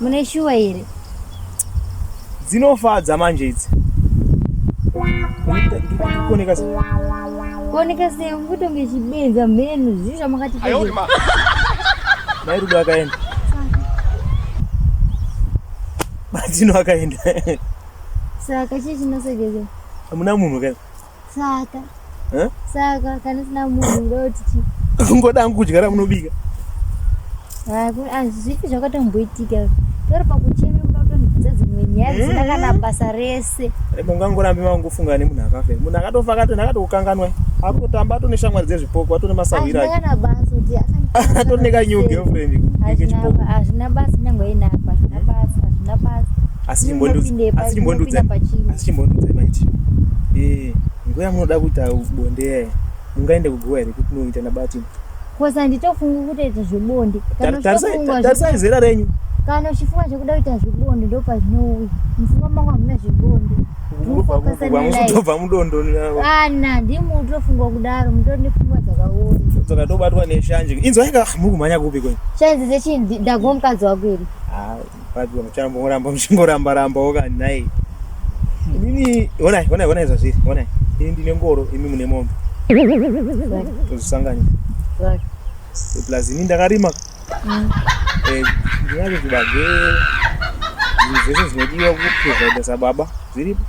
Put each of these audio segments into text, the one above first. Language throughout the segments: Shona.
mune shuwa here dzinofadza manje idzi kuoneka sei kuoneka sei ungutonge chibenza mhenu zvii zvamakati mai rudo akaenda badzino akaenda saka chii chinosegeza hamuna munhu kai Saka. Eh? Saka kana sina munhu ngoti chi. Ngoda hangu kudya ramunobika. Ah, azvipi zvakatomboitika. Tori pakuchema kuda kutonzidza dzimwe nyaya dzisina kana eh? basa rese. Eh, mungangorambe mangofunga nemunhu akafa. Munhu akatofa akatonhu akatokukanganwa. Akutotamba atone shamwari dzezvipoko atone masahwira. Azvina kana basa kuti atone ka new girlfriend. Azvina basa nyangwe inapa. Azvina basa. Azvina basa. asi chimbondiudza maiti eh, nguva yamunoda kuita bonde yaye mungaende kuguva here kuti munoita nabati bcause handitofungi kutoita zvebonde tarisai zera renyu kana uchifunga zvekuda kuita zvebonde ndo pazvinouya mufunga mangu hamuna zvebonde mukutobva mudondoana ah, ndimi mutofunga kudaro mutori nepfungwa dzakaoma dzoka tobatwa neshanje inzwa inga ah, muri kumhanya kupi kwenyu shanje dzechii ndagomukadzi wako iri ah, Vabirwa muchambongoramba muchingoramba rambawo kani nhai. Inini honai honai honai zvazviri honai. Ini ndine ngoro imi mune mombe. Tozvisanganya. Right. Plus ini ndakarima. Mm. Eh ndinazvo zvibage zvese zvinodiwa kuprovide sababa zviripo.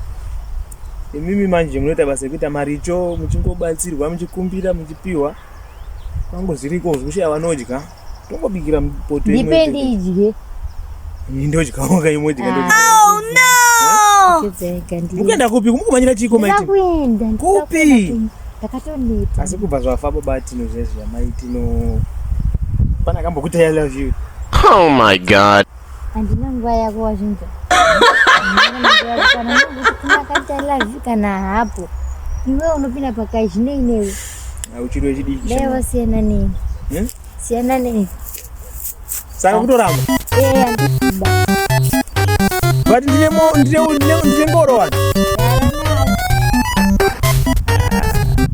Imimi manje munoita basa rekuita maricho muchingobatsirwa muchikumbira muchipiwa. Kwangu zviriko zvekushaya vanodya. Tongobikira poto imwe. Ndipe ndidye. Ndodyawo ka imwe dika ndodya. Oh no. Mukuenda kupi? Mukumanyira chiko maiti. Ndakuenda. Kupi? Ndakatoneta. Asi kubva zvafa baba tino zvezvi amaiti no. Pana kambokuta I love you. Oh my god. Handina nguva yako wazvinzwa. Kana ndakati love kana hapo. Iwe unopinda pakai zvine inewe. Auchiri wechidiki. Dai wasiyana nei. Hmm? Siyana nei. Saka kutoramba. Eh, andikuba. But ndine mo ndine ndine ndine ngoro wani.